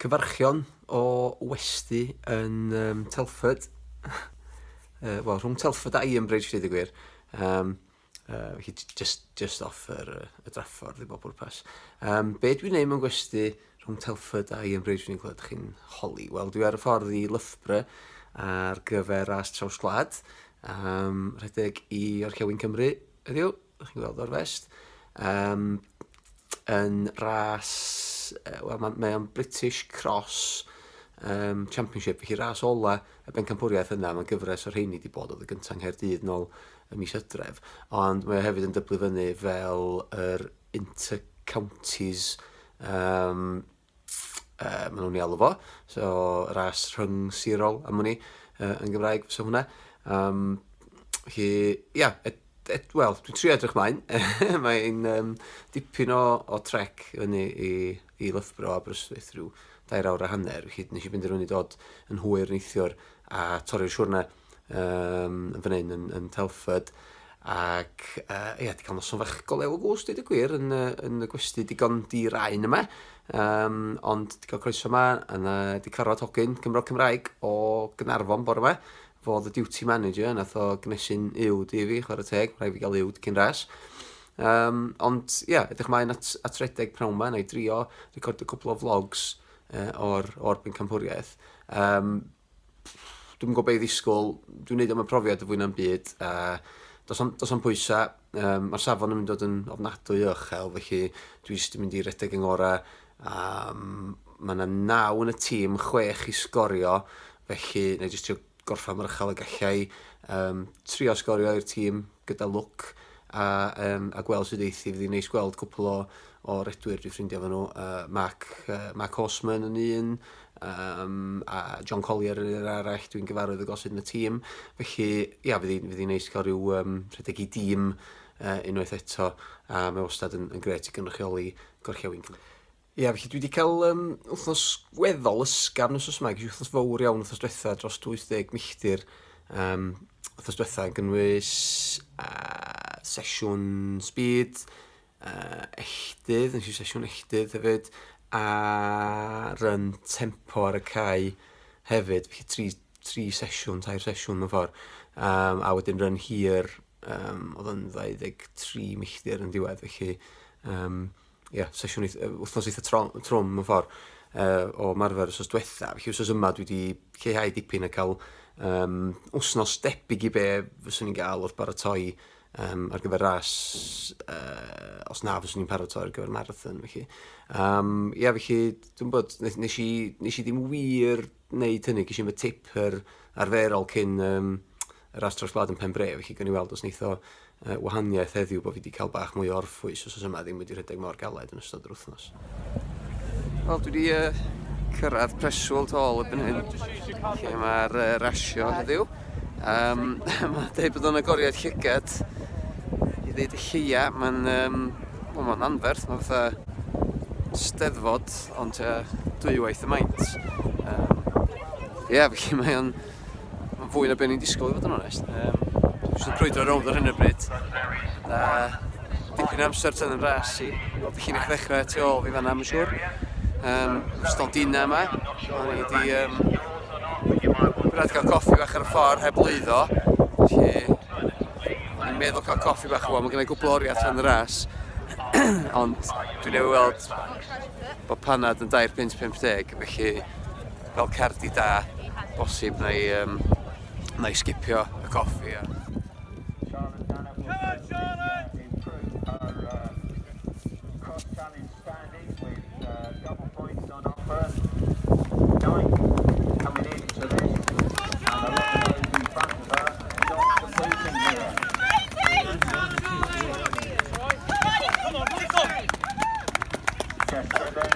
Cyfarchion o westy yn um, Telford. uh, Wel, rhwng Telford a Ian Bridge, dweud y gwir. Um, uh, felly just, just off yr, y draffordd i bob pwrpas. Um, be dwi'n neud mewn gwesti rhwng Telford a Ian Bridge, fi'n gweld chi'n holi. Wel, dwi ar y ffordd i Loughborough ar gyfer ras traws gwlad. Um, rhedeg i Orchewin Cymru, ydyw? Dych chi'n gweld o'r fest. Um, yn ras, uh, wel, mae, mae o'n British Cross um, Championship, felly ras ola y bencampwriaeth yna, mae'n gyfres o'r rheini wedi bod oedd y gyntaf yng Nghaerdydd nôl y mis ydref, ond mae hefyd yn dyblu fyny fel yr Inter Counties um, uh, maen nhw'n ei alw fo, so ras rhwng sirol am hwnni uh, yn Gymraeg, so hwnna. Um, hi, ia, yeah, wel, dwi'n trio edrych mlaen. Mae'n um, dipyn o, o trec fyny i, i Lyfbro a Bryswith rhyw dair awr a hanner, felly nes i benderfynu dod yn hwyr neithiwr a torri'r siwrna um, yn fan hyn yn, yn Telford, ac uh, ia, di cael noson fach go lew o gwrs, dweud y gwir, yn, uh, yn y gwesti digon di rain yma, um, ond di cael croeso yma, a na, di carfod hogyn Cymro Cymraeg o Gynarfon bore yma, fo the duty manager, nath o gnesu'n uwd i fi, chwarae teg, rhaid fi gael uwd cyn ras. Um, ond, ia, yeah, ydych mae'n at, at redeg prawn yma, na i drio recordio cwpl o vlogs uh, o'r, or Bencampwriaeth. Um, dwi'm yn gwybod be' i ddisgwyl, dwi'n neud o am y profiad y fwy na'm byd, a does na'm does na'm pwysa', yym ma'r safon yn mynd dod yn ofnadwy o uchel, felly dwi jyst yn mynd i redeg yn ngora, a mae yna naw yn y tîm, chwech i sgorio, felly na i jyst trio gorffan mor uchel y gallai, um, trio sgorio i'r tîm gyda lwc, a, um, a gweld sydd eithi, fydd hi'n neis gweld cwpl o, o redwyr dwi'n ffrindiau fy nhw, uh, Mark, uh, Mark Horseman yn un, um, a John Collier yn yr arall, dwi'n gyfarwydd y gosod yn y tîm. Felly, ia, fydd hi'n hi neis cael rhyw um, rhedeg i dîm uh, unwaith eto, a mae wastad yn, yn gret i gynrychioli gorllewin Cymru. Ia, felly dwi wedi cael um, wythnos weddol ysgaf nos os yma, gyda wythnos fawr iawn wythnos diwetha dros 20 milltir. Um, wythnos diwetha yn gynnwys uh, sesiwn speed, uh, echdydd, nes i sesiwn echdydd hefyd, a run tempo ar y cae hefyd, felly tri, tri sesiwn, tair sesiwn mewn ffordd, um, a wedyn run hir, um, oedd yn 23 milltir yn diwedd, felly, um, yeah, sesiwn wythnos eitha trwm mewn ffordd uh, o marfer os oes diwetha, felly os oes yma dwi wedi lleihau dipyn a cael um, wsnos debyg i be fyswn i'n gael wrth baratoi um, ar gyfer ras, uh, os na, fyswn i'n paratoi ar gyfer marathon, felly. Um, ia, felly, dwi'n bod, nes, nes, i, nes i ddim wir wneud hynny, gysi fy tip yr arferol cyn um, y ras tros gwlad yn pen bre, felly gan i weld os neitho uh, wahaniaeth heddiw bod fi wedi cael bach mwy o orffwys os oes yma ddim wedi rhedeg mor galed yn ystod yr wythnos. Wel, dwi wedi uh, cyrraedd preswyl tol y byn hyn, lle mae'r uh, rasio heddiw. Um, mae'n dweud bod o'n agoriad llygad i ddeud y lleia. Mae'n um, well, ma anferth, mae'n fatha steddfod, ond uh, dwywaith y maint. Um, Ie, yeah, felly mae o'n Mae'n fwy na beth ni'n disgwyl i fod yn onest. Um, Dwi'n crwydro rownd ar hyn o bryd. A dipyn amser tyn yn ras i. Wel, ddech chi'n eich ddechrau tu ôl fi fanna, mae'n siŵr. Um, ystod dina yma. O'n i wedi... Um, Gwrdd cael coffi bach ar y ffordd heb lwyddo. Felly, i'n meddwl cael coffi bach o, mae gennau gwbl oriau tan y ras. Ond dwi'n ei weld bod panad yn 2.50, felly Fel cerddi da, bosib na i um, na i sgipio y coffi. A...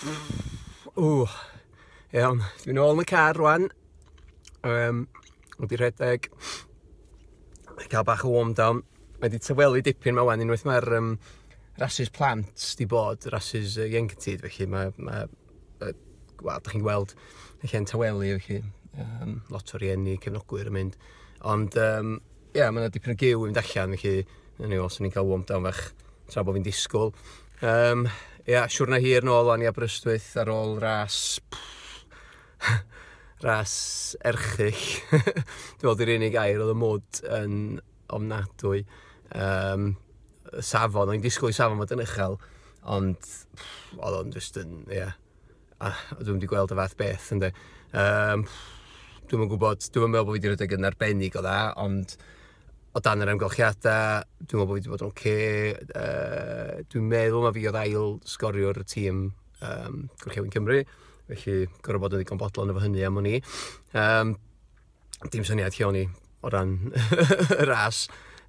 Ww, iawn, dwi'n ôl yn y car rwan, um, wedi rhedeg, cael bach o warm down, mae wedi tywelu dipyn mae wan, unwaith mae'r um, rhasys plant di bod, rhasys uh, ieuenctid, felly mae, mae uh, wel, da chi'n gweld y lle'n tywelu, felly um, lot o rieni, cefnogwyr yn mynd, ond um, Ia, mae yna dipyn o gyw i fynd allan, felly yn ei ôl, swn i'n cael warm down fach tra bod fi'n disgwyl. Um, ia, siwrna hir nôl o'n i Aberystwyth ar ôl ras... ras erchyll. Dwi'n meddwl di'r unig air oedd y mwd yn ofnadwy. Um, safon, o'n i'n disgwyl i safon fod yn uchel, ond oedd o'n just yn, ia, yeah, Ah, dwi'm wedi gweld y fath beth, ynddo. Um, dwi'm yn gwybod, dwi'm yn meddwl bod fi wedi rhedeg yn arbennig o dda, ond o dan yr amgylchiadau, dwi'n meddwl bod fi wedi bod yn oce. Okay. Uh, dwi'n meddwl mae fi oedd ail sgoriwr y tîm um, Gorllewin Cymru, felly gorau bod yn ddigon bodlon efo hynny am o'n i. Um, dim syniad lle o'n i o ran y ras.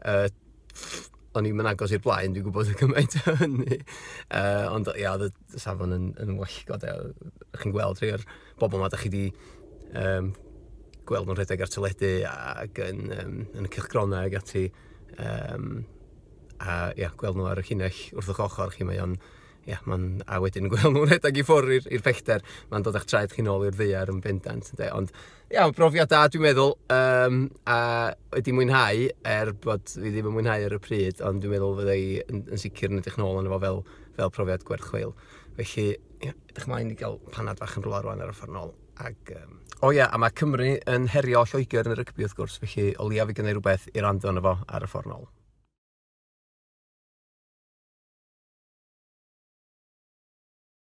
Uh, o'n i'n agos i'r blaen, dwi'n gwybod y cymaint o hynny. Uh, ond ia, yeah, oedd y safon yn, yn wellgod. Ydych chi'n gweld rhai o'r bobl yma, ydych chi wedi um, gweld nhw'n rhedeg ar teledu ac yn, um, yn y cylchgronau ac ati. Um, a ia, gweld nhw ar y llinell wrth o'ch ochr chi, mae o'n... Ia, mae'n... A wedyn gweld nhw'n rhedeg i ffwrdd i'r pellter, mae'n dod â'ch traed chi'n ôl i'r ddeiar yn bendant, ynde? Ond Ia, mae'n brofiad da dwi'n meddwl, yym, a wedi mwynhau, er bod fi ddim yn mwynhau ar y pryd, ond dwi'n meddwl fydda i yn yn sicr yn edrych nôl arno fo fel fel profiad gwerth chweil. Felly, ia, edrych ymlaen i gael panad fach yn rwla rŵan ar y ffordd nôl, ac yym... O ia, a mae Cymru yn herio Lloegr yn y rygbi wrth gwrs, felly o leiaf fydd gynna i rywbeth i rando arno fo ar y ffordd nôl.